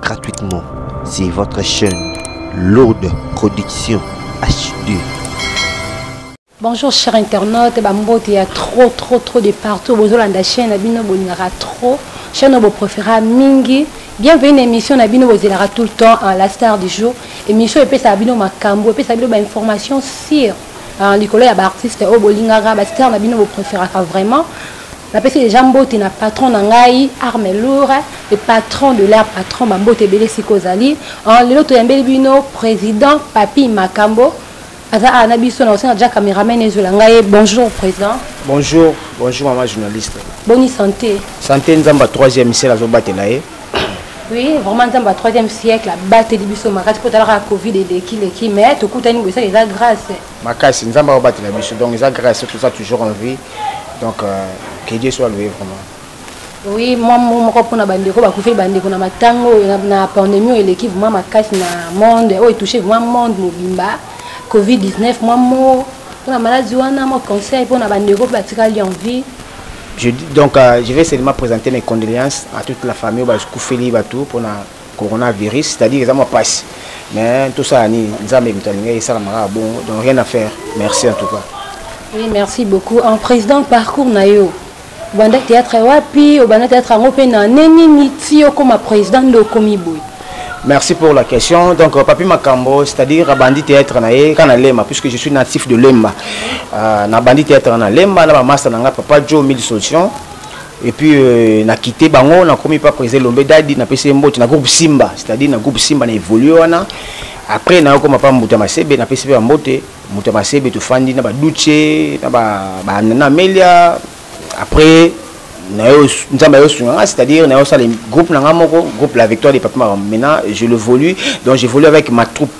gratuitement c'est votre chaîne lourde production HD Bonjour chers internautes, Bambote, il y a trop trop trop de partout. Bozolanda chaîne na bino bolingaka trop. Chaîne obo préféra mingi. Bienvenue na émission na bino bozelaka tout le temps en la star du jour. Émission epesa bino makambo, epesa bino ba information sur en likolo ya ba artistes obo lingaka, ba stars na bino bo préféraka vraiment. napesi deja mbote na patron na ngai arme loure le patron de leur patron bambote ebele esika ozali lelo toyambeli bino président papi makambo aza awa na biso na kosenga ja cameraman ezwela ngai bonjour président bonjour bonjour mama journaliste boni santé santé nzambe ya troisième misele azobatela ye oui vraiment nzambe ya troisième siècle abateli biso makasi mpo talaka covid eleki leki mais tokutani boye esaka eza grâce makasi nzambe akobatela biso donc eza grâce soki toza toujours en vie donc euh, que dieu soit loué vraiment oui mwa moko mpona bandeko bakufeli bandeko na matanga oyo na pandémie oyo eleki vraimen makasi na monde oyo etouche vraimen monde mobimba covid-19 mwa mo mpona maladi wana mwa conseil mpona bandeko mpe batikali en vie Je, donc, euh, je vais seulement présenter mes condoléances à toute la famille, au Koufouli, Batou, pour coronavirus c'est à dire eza mwa pasi mais tosala nini nzambe moto alingaki esalamaka ya bongo donc rien à faire merci en tout cas oui merci beaucoup en président parcours na yo obanda théâtre wapi obanda théâtre yango mpe na ne nini ti okoma président nde okomi boye Merci pour la question. Donc, euh, Papi Makambo, c'est-à-dire Abandi Théâtre Nae, Kanalema, puisque je suis natif de Lemba. Euh, Nabandi Théâtre Nae, Lemba, Naba Master Nanga, Papa Joe, Mille Solutions. et puis euh, na quitté bango na komi pa président Lombe Dadi na pesi mbote na groupe Simba c'est-à-dire na groupe Simba na évoluer wana après na koma pa mbuta masebe na pesi pe mbote mbuta masebe to fandi na ba duche na ba ba na melia après na yo nzambe yo sunga nga c'est-à-dire na yo sala groupe na nga moko groupe la victoire des papa maintenant je le volue donc j'évolue avec ma troupe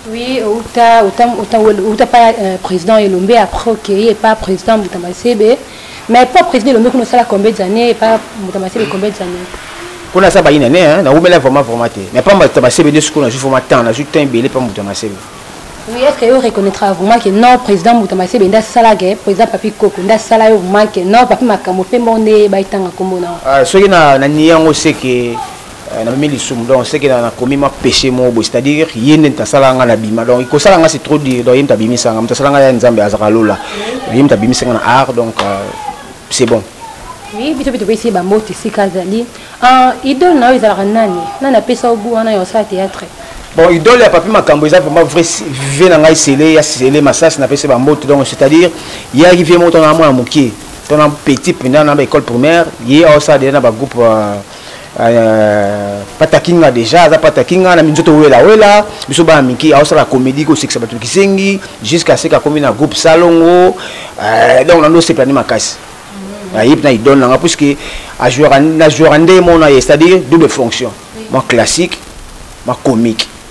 Oui, uta uta uta uta pa euh, président Elombe après ok et pas président Mutamasebe. Mais pas président Elombe qu'on sala combien d'années et pas Mutamasebe combien d'années. Qu'on a ça bah une année hein, na oumela vraiment vraiment te. Mais pas Mutamasebe de ce qu'on a juste vraiment temps, on a juste temps belé pas Mutamasebe. Oui, est-ce que vous reconnaîtra vraiment que non, président Mutamasebe nda sala que président Papi Koko nda sala yo vraiment que non, Papi Makambo pe monde ba itanga komona. Ah, ce qui na na niango c'est que Eh, namemi lisumu donc seke nakomi mwa péché moko boye c'est à dire ye nde moto asala nga na bima donc kosala nga c'est trop dur donc ye moto abimisa nga moto asala nga ya nzambe azalaka lola ye moto abimisa nga na art donc euh, c'est bon oui biso mpe topesi ye bambote esika azali ah, idole na yo ezalaka nani nani apesa yo gout wana ya osala théâtre bon idole ya papi makambo eza vraiment vrai vie na ngai sele ya sele masasi napesi bambote donc c'est à dire ye ayaki vie moko tona mwana mokie tona petit mpenza na baécole primaire ye aosala deja na bagroupe euh, Euh, pata kinga déjà aza pata kinga na minzoto wela wela biso bana mike aosala comédie kosekisa bato kisengi jusqu'à seke akomi na groupe salongo euh, donc nando osepela nde makasi ayebi na idole nanga puisque na jouaka nde mona ye c'est-à-dire double fonction mwa classique mwa comique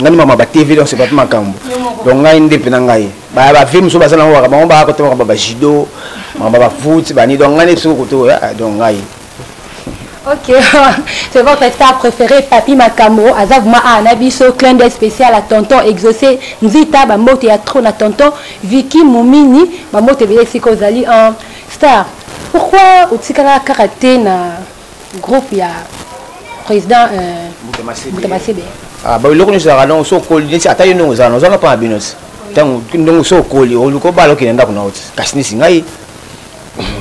ngai nde mama ba tv donc sepapi makambo donc ngai nde mpe na ngai bavie mosusu baza nango kaka bango baka kotema kaka bajudo mama bafoot bani donc ngai nde biso kokote oyo ah, donc ngai Ok, c'est votre star préféré, Papi Makambo, Azavuma Anabiso, clin d'œil spécial à Tonton Exaucé, Nzita, Bambote ya trop na Tonton, Vicky Moumini, Bambote Belesiko Zali en star. Pourquoi Otsikala Karaté na groupe ya président euh, mbuta masebe ah, babiloko nyonso ezalaka ndongo so okoli neti ata yo ndongo ozalana ozalana mpo na bino ti ntango ndongo so okoli oluki obala okende ndako na yo ti kasi neti ngai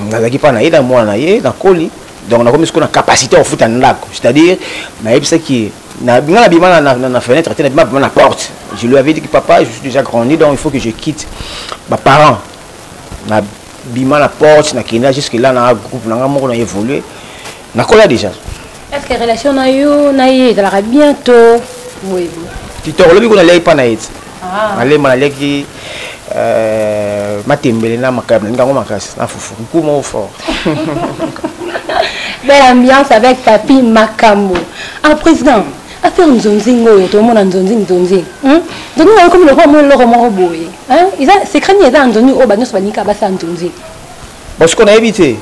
nazalaki mpa na ye na mwana na ye nakoli donc nakomi sikoyo na capacité ya kofuta ndako c'est-à-dire nayebisaki ye ngai nabima na fenêtre te nabima bima na porte je lui avais dit que papa je suis déjà grandi donc il faut que je quitte baparent bima na porte na kenda jusque là na groupe na nga moko na évoluer na kola déjà est ce que relation na yo na ye ezalaka bien to boye kitoko lobi kuna leki pa na ye ti ah. nalemba naleki euh, matembele na makaya nalingi yango makasi na fufu nku moko fort belle ambiance avec papi makambo ah président affaire nzonzinga oyo tomona nzonzi nzonzi hmm? nzonzi nayo komi lokola mwa eloko moko boye eza secret nini eza ya nzonzi oyo banyonso banika basala nzonzi bosiko nayebi te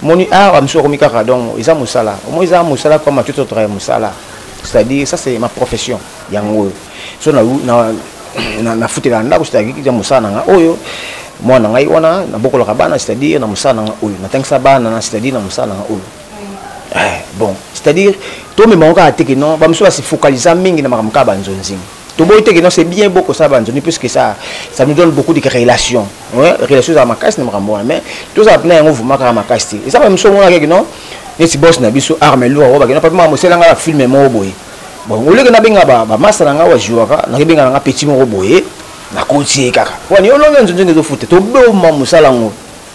moni awa mosusu akomi kaka donc eza mosala omoi eza mosala comme matute otraya mosala c'est-à-dire ça c'est ma profession yango oyo so nafutela ndako c'est-à-dire mosala na nga oyo mwana ngai wana nabokolaka bana c'est-à-dire na mosala na nga oyo natangisa bana na c'est-à-dire na mosala na nga oyo Eh, bon c'est à dire tomema yango kaka te ke non bamosusu basi fokalisa mingi na makambo kaka banzonzing toboyi te ke non c'est bien bokosala banzonzing puisque ça ça nous donne beaucoup de relations relation ezala makasi na makambo wana mais tozala mpena yango vuma kaka makasi te eza bamosusu omonaka ke non neti bos na biso arme lour oyo bakenda papi maka mosela nga bafilme moko boye bon oleke nabenga bamasa na nga wajuaka nakebenga na nga petit moko boye nakoti ye kaka wani olongi nzonzing ezofute toboma mosala yango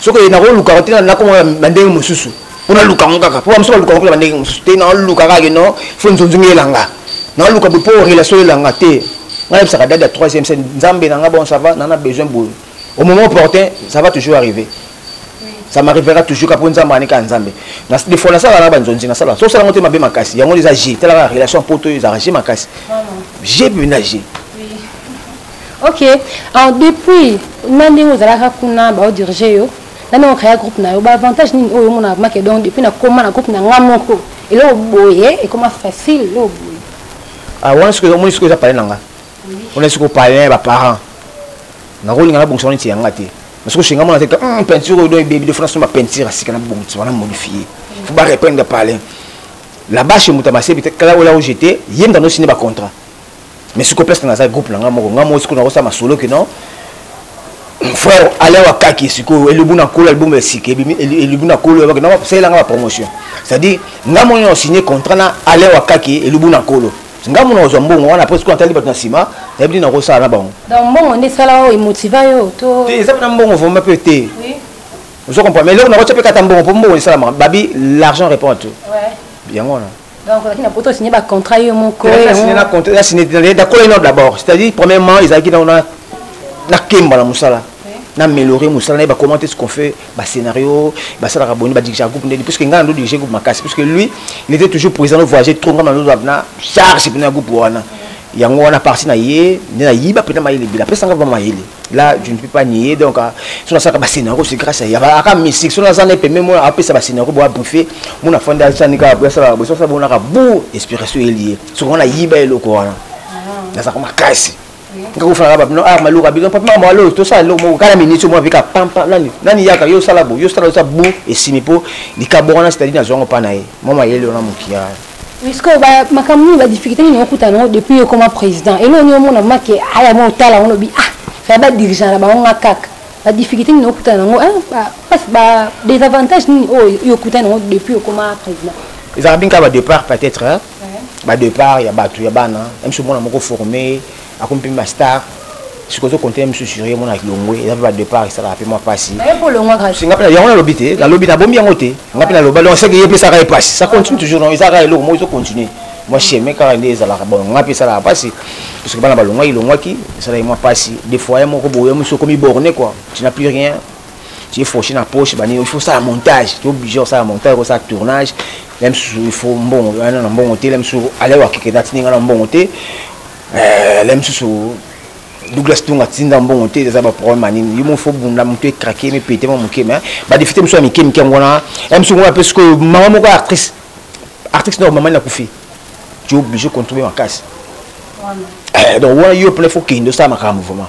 soki oye nakoluka te nakomona bandenge mosusu mpo naluka yango kaka mpo bamosusu baluka yango bandenge mosusu te naluka kaka no fo nzonzongi elanga naluka boye mpo relation elanga te ngai nayebisaka dade ya troisième scène nzambe na ngai bon ça va nana besoin boye au moment opportun ça va toujours arriver ça m'arrivera toujours kaka mpo nzambe anika ya nzambe de fois nasalaka na banzonzi nasalaka so osalango te mabe makasi yango eza g talaka relation poto ezalaka g makasi g mpenza g ok alors depuis na ndenge ozalaka kuna baodirige yo na ndenge okrea groupe na yo baavantage nini oyo omonaka make donc depuis nakoma na groupe na nga moko eloko boye ekoma facile eloko boye ah, wana soki omoni soki eza pale na nga ona soki opale na ya baparent nakolinga nabongisa wana neti yanga te soki oshinga mona te hmm, peinture oyo do ebebi defo nasomba peinture asika nabongisa wana modifie fo barependre pale la bache moto ya masebi te kala ola ojete ye moto anosine bacontrat mais sikoyo presque naza groupe na ngai moko ngai moko sikoyo nakosala masolo ke non frère alain wakaki sikoyo elubu na nkolo album esika ebimi elubu na nkolo yabaki nao salela ngai bapromotion c'est à dire ngai moko nao signe contrat na alain wakaki elubu na nkolo ngai mona kozwa mbongo wana apres sikoyo atali bato na nsima nayebi nini nakosala na bango donc mbongo nde esala oyo emotiva yo to te eza mpena mbongo vraimen mpe te ozo comprendre mais eloko nakotya mpe kata mbongo mpo mbongo esalamaka babi l'argent répond à tout yango wana Donc, on a poto signé un contrat, yo mon corps. On a signé un contrat, on a signé un contrat d'abord. C'est-à-dire, premièrement, ils avaient dans la Kemba, la Moussala. na améliorer mosala na ye bacommante ce qu'on fait bascénario basalaka boni badirigea groupe ndeni puisque ngai nando dirige groupe makasi puisque lui il était toujours présent voyager trop ngai nando na charge mpena ya groupe wana yango wana parti na ye nde nayiba mpena mayele ebele apesanga ba mayele là je ne peux pas nier donc euh, sona saka ba scénario c'est grâce à yaba aka mystique sona za ne pembe moi apesa ba scénario bo briefer mona fanda ça nika bo ça bo ça bona ka bo inspiration lié so on a yiba eloko wana na za koma kasi nga ko fala ba no ah maluka bi papa mama lo to ça lo mo kala minute mo bika pampa nani nani yaka yo sala bo yo sala ça bo et simipo likabona c'est-à-dire na zongo pa na ye mama yele ona mukia mais sikoyo makambo nini badifficulté nini okutana yango depuis yo ekoma président eloo nini omona make aya mo otala yango lobi ah aya badirigeant na bango nga kaka badifficulté nini okutana yango badesavantage nini oyo yo okutana yango depuis okoma président ezalaka binka badépart peut-être badépart ya bato ya bana mso mwana moko forme akomi mpe ba star soki ozo compte misu sur ye mona kilongwe eza mpe ba départ esalaka mpe mwa mpasi singa mpe yango nalobi te nalobi nabombi yango te nga mpe naloba donc seke ye mpe esaka ye mpasi ça continue toujours non ezaka eloko moko ezo continue mwa chemin kaka nde ezalaka bon nga mpe esalaka mpasi parceke bana balongwaki longwaki esalaki mwa mpasi des fois ya moko boye mosu okomi borne quoi tu n'as plus rien tu es fauché na poche bani il faut sala montage tu obligé osala montage osala tournage la misusu il faut mbongo wana na mbongo te la misusu alewakeke natini nga na mbongo te eh, la misusu douglas tonga tinda mbongo te eza baproblème ya nini yo mo fo bunda motu ekrake mipete mwa moke me badefite mosusu ya mike mike yango wana ya mosusu ngona mpe sikoyo mama moko ya actrice actrice nao mamani akufi tu oblige contribuer makasi eh, donc wana yo mpena fo kende osala makambo vraiment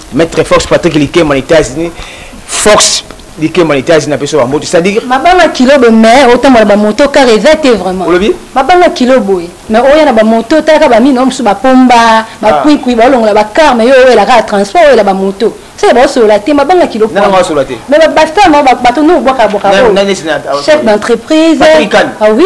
Maître Fox Patrick Likemba na États-Unis. Fox Likemba na États-Unis na peso bamboto. C'est-à-dire mabanga kilo bo mais otambola ba moto car eza te vraiment. Olobi? Mabanga kilo boye mais oya na ba moto talaka ba mino musu ba pomba ba ah. kwikwi ba longola ba car mais yo oyela ka transport oyela ba moto. C'est ba solo la te mabanga kilo po. Non, solo la te. Mais ba basta ma ba bato no bwaka bwaka. Chef d'entreprise. Ah oui.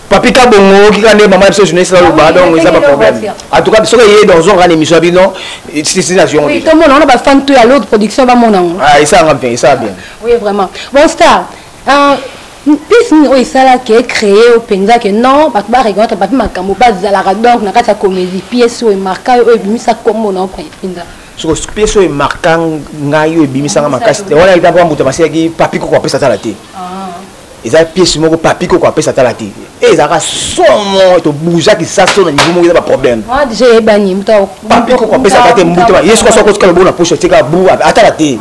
papi ka bongo oki ka nde mama ya biso journaliste naloba ah donc eza baproblème en tout cas soki eye donc zonga na émission ya bino sisi na ziongo tomona wana bafan to ya lord production bamona yango ah, esanga bien esala bien oui vraiment bon star euh, mpesi nini oyo esalaki ecree oyo mpenza ke non bato bareconnaître bato makambo bazalaka donc na kati ya comédie pièce oyo emarka oyo ebimisa nkombo na mpenza soko pièce oyo emarka ngai oyo ebimisanga makasi te wana eza mpo moto basilaki papi koko apesa tala te ah. eza pièce moko papi koko apesa tala te e ezalaka somo tobuzaki saso na niveau moko eza baproblème papi koko apesa kaka te mbuta ye soki soki otikala obona poso tika bu atala te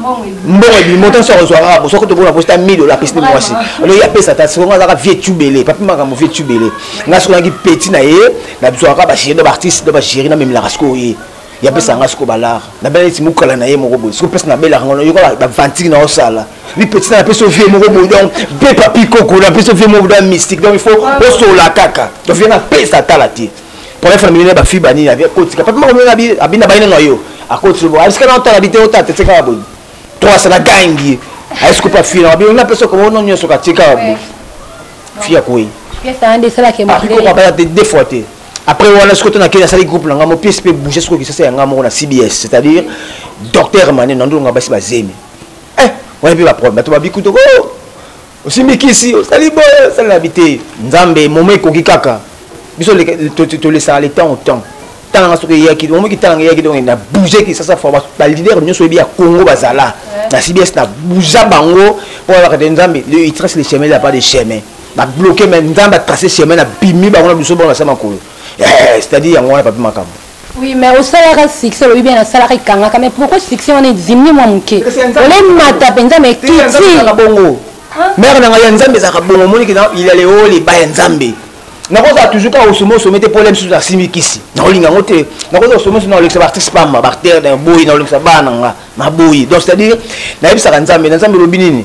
mbongo ebimo tan soki ozwaka kaka soki tobona poso ta 1000 dola apesi nde mwasi alo ye apesa ta soki azalaka vie tubele papi makambo vie tubele nga soki naki petit na ye nazwaka baseri na baartiste na bageri namemelaka sikoyo ye ya pesa nga siko balar na bela neti mukala na ye moko boye siko pesa na bela ngo yoka ba vantiki na osala mi petit na pesa vie moko boye donc pe papi koko na pesa vie moko da mystique donc il faut osola kaka donc vie na pesa tala te pour faire mine ba fi bani ya kotika papi moko na bi abina baina na yo akoti bo aska na tala bite otata tseka boye trois sana gangi asko pa fi na bi na pesa ko no nyoso ka tseka boye fi ya koi pesa ande sala ke mo ko ba te deux fois te après wana sikoyo to nakei nasali groupe na ngai mo pièce mpe bouge sikoyo kisasa ya ngai moko na cbs c'est à dire docteur mane na ndolonga basi bazemi eh wana mpe baproblème bato babikuto ko oh, osimbi kisi osali boye osali na bite nzambe momo ekoki kaka biso tolesaka le temps au temps tala nga soki eyaki omo kitala nga eyaki donc na bouge ki sasa fa ba leader nyonso yebi ya Congo bazala na CBS na bouge bango pour la nzambe le il trace le chemin là pas de chemin ba bloquer mais nzambe a tracer chemin na bimi bango na biso bango na sama kolo eh, c'est à dire yango wana papi makambo Oui, mais au salaire succès, le bien au salaire kangaka, mais pourquoi succès on est diminué moi mouké On est mata penza mais qui dit bongo. Hein? Mère na ya nzambe zaka bongo moni kina il allait au les baya nzambe. Na ko za toujours ka osomo somo te problème sur la simikisi. Na ko linga ngote, na ko za osomo somo na leksa artiste pa ma barter na boyi na leksa bana nga, ma boyi. Donc c'est-à-dire na yebisa ka nzambe, na nzambe lobi nini?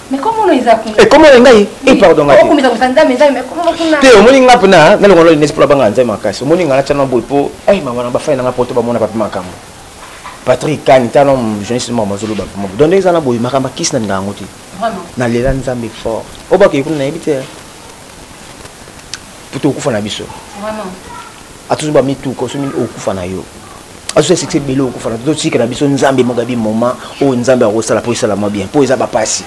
ekoma na ngai e pardon nga te omoni nga mpena nga longola linesi mpo nabanga nzai makasi omoni nga natya na boye mpo ai eh, mama na bafai na nga mpo to bamona bape makambo patrik kani tana journaliste moko mazoloba mpo moko donde eza na boye makambo akisi na ndanga yango te nalela nzambe fort obakei kuna nayebi te mpo tokokufa na biso atuzu bamituka oso mingi okufa na yo azusa succès ebele okufa na totika na biso nzambe mogabi moment oyo nzambe akosala mpo esalama bien mpo eza bapasi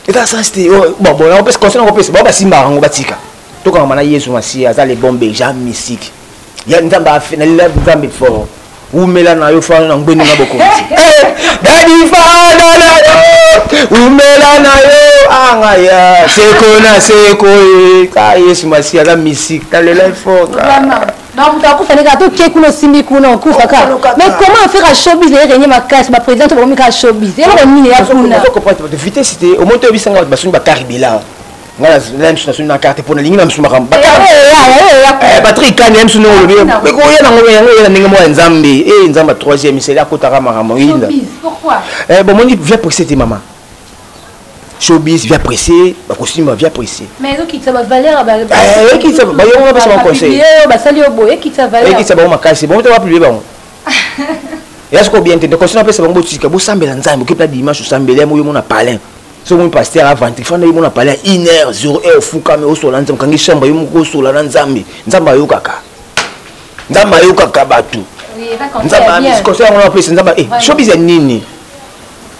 eza sens te oh, babona opesa conseil na kopesa bao basimbaka yango batika tokangama na yesu masiya aza le bon beja mystique ya nzambe afe na lela nzambe fort wumela na yo fana na ngwende na bokonzi eh, dadi fana na yo wumela na yo anga ya seko na seko e ka yesu masi aza misik na lela fort bakuta akufa ndenge ato oke kuna osimbi kuna okufa ka mais comment affaire ya showbiz naye renye makasi baprésident to bakomi kaka showbiz eloko nini ya kuna vitesse te omoni toyebisanga bato basoni bakaribela nga na misu nasoni na carte mpo nalingi na misu makambo batrik kani ya misu ndenge olobi ekoya nango yango oyela ndenge moko ya nzambe e nzambe ya troisième seli akotaka makambo oyinda eh, bomoni via presse te mama showbiz via presse bakosimba via presse ekitisa bayongo bapesa bango conseilekitisa bango makasi bango te bapiblie bango ya soko bien te nde conseil napesa bango botika bosambela nzambe okepela dimanche osambela yango yo mona palin soki omi paster avandi fanda ye mona pale ya une heure zero heure ofukami osola nzambe kangi chambre yo moko osola na nzambe nzambe ayokaka nzambe ayokaka bato nzambe amisi conseil yango napesi nzambe eh, showbiz ya nini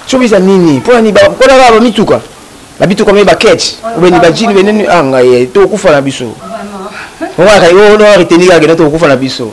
showbiz ya nini mpona nini mpona kaka bamituka na bituka mei bakete obeni bajini beneni a ah, ngai eh, tokokufa na biso ongo akali oyo retenir akende tokokufa na biso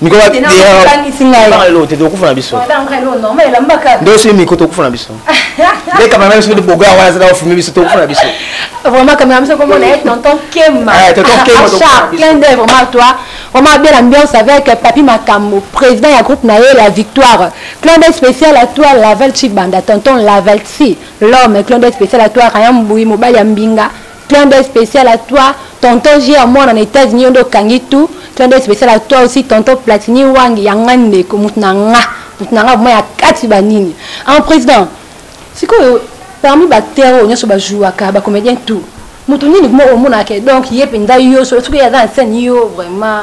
mikoba te tokangisi ngai banga lelo te tokufa na biso nde soki miko tokufa na biso nde kamera biso nde bogoya wana azala ofilme biso tokufa na biso vraiment kamera biso komona ye tonton kema eh, tonton kema char plein de vraiment toi vraiment belle ambiance avec papi makambo président ya groupe na ye la victoire clin d'œil spécial à toi laval chibanda tonton lavalsi l'homme clin d'œil spécial à toi rayan mbuyi mobali ya mbinga Clin d'œil spécial à toi, tonton J. Amona na États-Unis, on doit kangi tout. Clin d'œil spécial à toi aussi, tonton Platini Wang, yanga ndeko, mutunanga, mutunanga, moi ya kati banini. En président, c'est quoi, parmi bactères, on y a sur ba jouaka, ba comédien tout. Mutunini, moi, on monake, donc, yep, nda yo, sur le truc, y'a dans scène, yo, vraiment.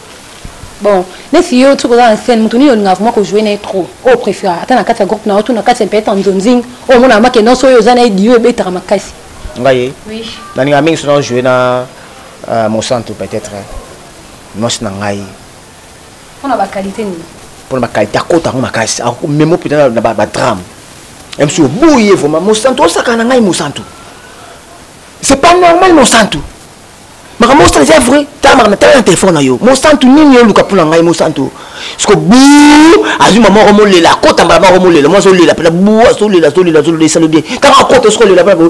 bon nesi yo soki oza na scène moto nini olingaka vraimen kojoue na ye trop oyo préféraka ata na kati ya groupe na yo to na kati ya peut-être ya nzonzing oyo omonaka make nyonso oyo oza na ye dio ebetaka makasi ngai nalingaka mingi soki najoue na euh, mosantu peut-être mwasi na ngai mpona bakalite nini mpona bakalite akota yango makasi memo mpenza na badrame msi oboyi ye vraimen mosantu osaka na ngai mosantu c'est pas normal mosantu makambo osala eza vrai tala makambo tala na telefone na yo mosantu nini oluka mpo na ngai mosantu siko bu azwi mama oko molela akota mbala mako molela mwa azolela mpena bu azolela azolela azolela esalo bien ntango akota siko olela mpena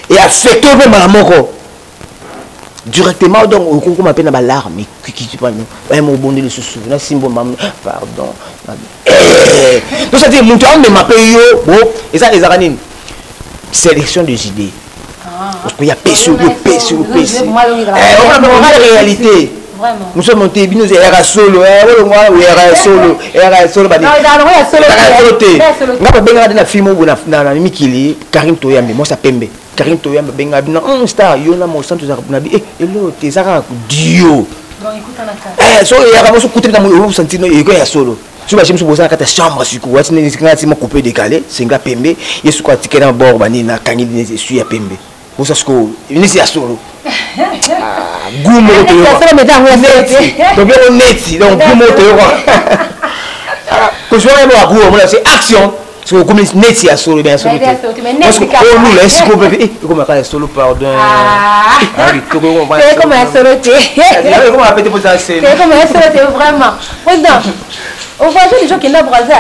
eafekte mpe mbala moko directement donc okokoma mpe na balarme kikiti pano baye mobonde lisusu nasimbo mam pardon tosati moto amema mpe yo bo eza ezaka nini sélection des idées oya pesi oyo pesi oyo pesi omona réalité mosusu monte bino eyaka solo olongwa oyaka ya solo eyaka ya solo solo te nga babengaka te na film obo na mikili karine toyambe mwasi ya pembe karine toyambe abengaka bino hmm, star yo na mosantu ezaka na bi eh, elo te ezaka dio eh, so eyaka mosu kuta na moyo osantino eko ya solo soki batie mosusu boza na kati ya chambre sikoyo ati ngai nati ma coupe décalé senga pembe ye sikoyo atikali na bord banini nakangi neti esui ya pembe bosa sikoyo neti ya solo ah, gu moko toyokaobeko neti donc gu moko toyoka ah, kosuaka yango ya gu omona se action soki okomi neti ya solo ya solo teolula esiko pepe ekomaka ya solo pardonekoma ya solo teekoma pete mpo eza seekoma ya solo te vraiment président ovoyage les gens kenda braza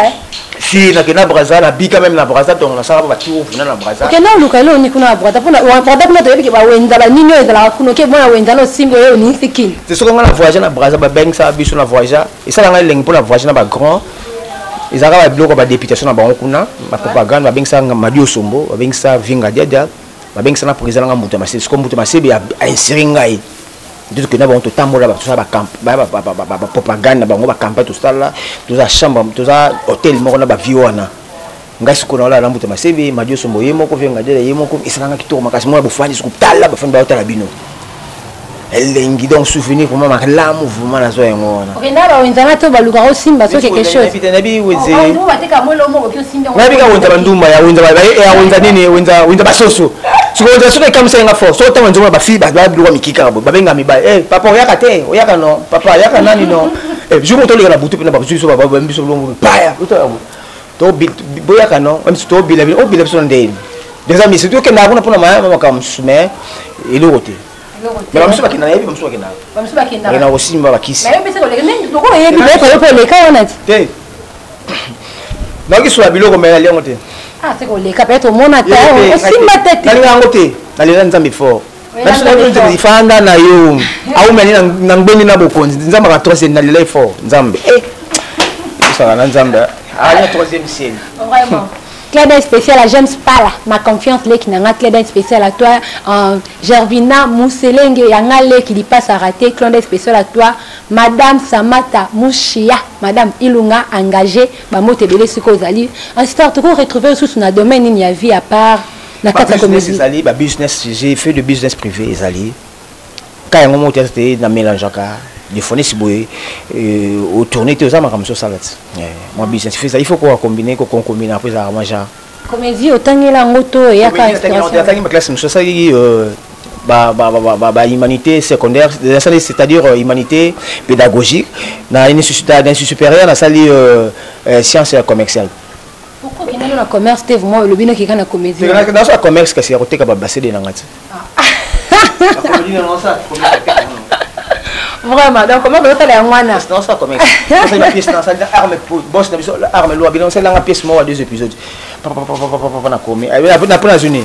si nakenda braza nabika meme na braza ntongo nasala mpo bati ovuna na braza okenda oluka eloo ni kuna na braza mpona braza kuna toyebi ke bawenza banini oyo ezalaka kuna oke mwana wenza na osimbi oyo onisi kini te soki ngai na voyage na braza babengisa biso na voyage esala ngai elengi mpona voyage na ba grand ezalaka ba biloko ba députation na bango kuna ba propagande babengisa madi osombo babengisa vinga diadia babengisa na président nanga mbuta masebe siko mbuta masebe ainsiri ngai ntutu kenda bango totambola tosala bapropagande na bango bacampagne tosala toza chambre toza hôtel moko na bavie wana ngai sikoyo naolala na mbuta masebe madi osombo ye moko venga dela ye moko esalanga kitoko makasi mona bofandi soko tala bafandi baotala bino elengi donc souvenir vraimen malamu vraimen nazwa yango wana okenda bawenzana to baluka osimba so quelque chosenayebi ka wenza bandumba ya wenza eh, nini wenza basoso sikoyo wenza soki ekamisaki nga fort soko ntango nzomona bafille babiloka mikika babenga mibali eh, papa oyaka te oyaka no papa oyaka nani no eh, jour moto oleka na butu mpe na bazuiso biso baya boyaka no meme si tobila bino obila biso na ndeni deja misi tokendaka kuna mpona mayama makambo mosusu mais eloko te mais bamosusu bakenda nayebi bamosusu bakendaka na kosimba bakisi koleka wana te nayoki sola biloko mai nali yango te ah, koleka mpe tomona te osimba te nalinga yango te nalela nzambe fort fanda na yo aumeli na ngbendi na bokonzi nzambe aka troisième na lelai fort nzambe eh. osaka na nzambe aya ah, troisième ciel Claire d'un spécial à James Pala, ma confiance leki nanga Claire d'un spécial à toi, euh, Gervina Mousselenge yanga leki li passe à rater, Claire d'un spécial à toi, Madame Samata Mouchia, Madame Ilunga engagée, ba mote belé siko zali. En tout cas, tu retrouver sous na domaine ni ya vie à part na kati ya comédie ezali ba business j'ai fait de business privé ezali ka yango moko teyata te na mélangeaka defonisi boye euh, otourne te oza makambo sosala ti eh, mwa business fesa il faut koka combine kokonkombine apres ezalaka mwa genre comédie otangela yango to eyakaatangi baklasse mosusu asalaki euh, bahumanité secondaire c'est-à-dire euh, humanité pédagogique na institut supérieur nasali science commerciale Pourquoi okenda na commerce te vraiment olobi noki kaka na comédie. Te na sa commerce kasi ya koteka ba basede na ngati. Vraiment donc comment vous allez en wana? Non ça commerce. C'est une pièce dans ça arme boss na biso arme loi bilan c'est la pièce moi deux épisodes. Papa papa papa papa na komi. Après na pona zone.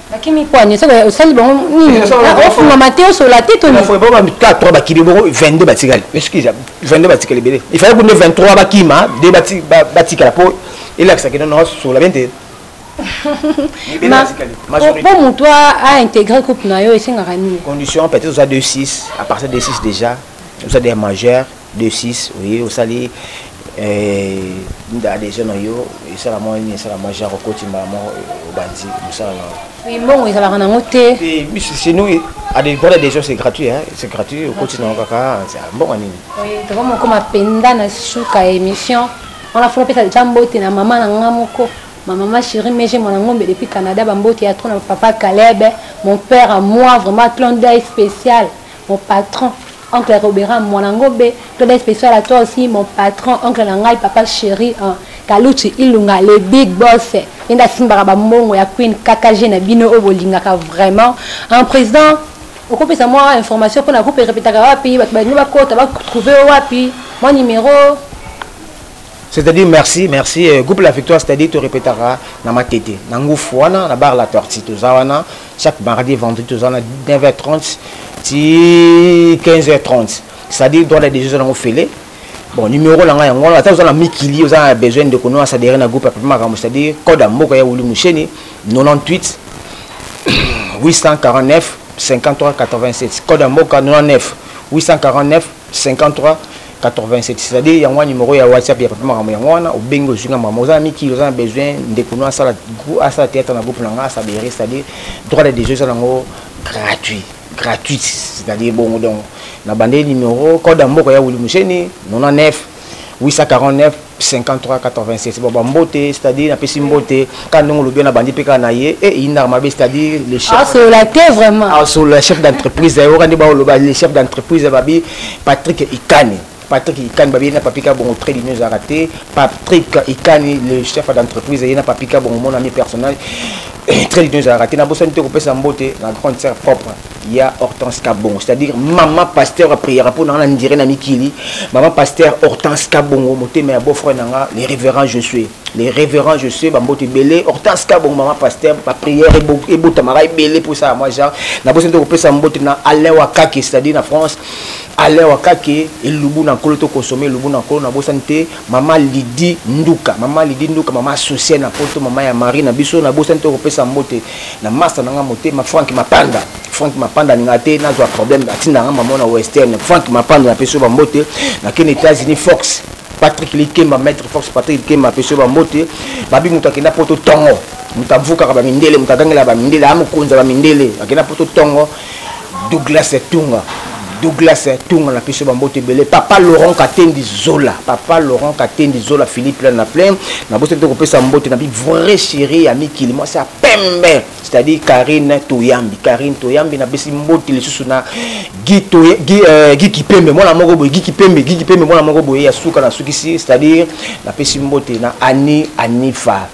bakimi kwani osali bango nini ah, ofungama te osola te toniboba bakimi bongo 22 batikali excuse 22 batikali ebele ifale kunde 23 bakima de batikala mpo elakisaki nono osola bien te mpo motu aintegre couple na yo esengaka nini condition peut-être oza 26 à partir de 6 déjà oza de majeur 26 oui osali eh, nda adhesion na yo esala mwa nini esala mwa genre okoti mbala moko eh, obanzi mosala na yo mbongo ezalaka nango te biso chez nous adeport adhesion c'est gratuit c'est gratuit okoti nango kaka mbongo nini tokoma okoma mpenza na suka ya émission wana fona pesa deja mbote na mama na nga moko ma maman chérie meje mwana ngombe depuis canada bambote ya tro na papa caleb mon père à moi vraiment clon dai spécial mon patron oncle robera mwana ngobe toda spécial à toi aussi mon patron oncle na ngai papa chéri hein. kaluchi ilunga le big boss ye nde asimbaka bambongo ya queen kkg na bino oyo bolingaka vraiment un président okopesa mwa information mpona groupe erepetaka wapi bato balingi bakota batrouve yo wapi mwa numero C'est-à-dire merci, merci. Euh, groupe La Victoire, c'est-à-dire tu répétera na ma tête. Na ngoufuana, na bar la tortue, tout ça, chaque mardi, vendredi, tout ça, 9h30, 15h30. C'est-à-dire, dans les deux jours, on fait bon numéro na ngai yango wana ata oza na mikili oza na besoin ndeko no asadere na groupe ya papa makambo c'est-à-dire code ya mboka ya wuli musheni 98 849 53 87 code ya mboka 99 849 53 87 c'est-à-dire yango wana numéro ya whatsapp ya papa makambo yango wana obengi ozwi nga makambo oza na mikili oza na besoin ndeko no asala asala théâtre na groupe na nga asabere c'est-à-dire droit de déjeu eza nango gratuit gratuite c'est-à-dire bongo donc na bandeli numéro code ya mboka ya wili museni 99 849 5386 baba mbote c'est-à-dire napesi mbote kaka ndenge olobi na bandi mpe kaka na ye e eh, eyindaka mabe c'est-à-dire le chef asolola te vraiment asolola ah, chef d'entreprise na ye oka nde baoloba le chef d'entreprise babi patrick ikani patrick ikani babi ye na papika bongo très lino ezalaka te patrick ikani le chef d'entreprise ye na papika bongo monami personnage eh, très lino ezalaka te nabosani te kopesa mbote na grande sœur propre ya hortense kabongo c'est-à-dire mama pasteur apriera mpo na nga na ndire na mikili mama pasteur hortense kabongo motema ya beau-frère na nga le révérend je suis le révérend je suis bamboto ebele hortense kabongo mama pasteur baprière ebotamaka ebele mpo esala mwa genre nabosi nde kopesa mbote na alain wakake c'est-à-dire na france alain wakake elubu na nkolo tokonsome elubu na nkolo nabosani te mama lidi nduka mama lidi nduka mama asocier na poto mama ya marie na biso nabosani te kopesa mbote na masta na nga motema frank mapanda frank mapanda alinga te nazwa problème atinda nga mama na western frank mapanda napesi yo bambote nakende états-unis fox patrick likemba maître fox patrick likemba apesi yo bambote babi moto akenda poto tongo moto avukaka bamindele moto agangela bamindele aa mokonzi ya bamindele akenda poto tongo douglas tunga douglas tunga na biso bambote ebele papa laurent katendi zola papa laurent katendi zola philippe lana plein na boso te kopesa mbote na bi vrai chéri ya mikili mwasi ya pembe c'est-à-dire karine toyambi karine toyambi napesi mbote lisusu na gi euh, kipembe mwana moko boye gi kipembe gi kipembe mwana moko boye ya suka nasukisi c'est-à-dire napesi mbote na ani anifa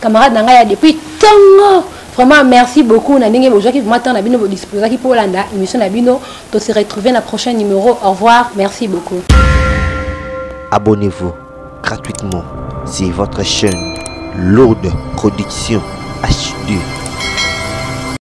camarade na ngai ya depuis ntongo vraiment merci beaucoup na ndenge bozwaki vraiment temps na bino bodisposaki mpo olanda émission na bino to se retrouver na prochain numéro au revoir merci beaucoup abonnez-vous gratuitement c'est votre chaîne lourde production HD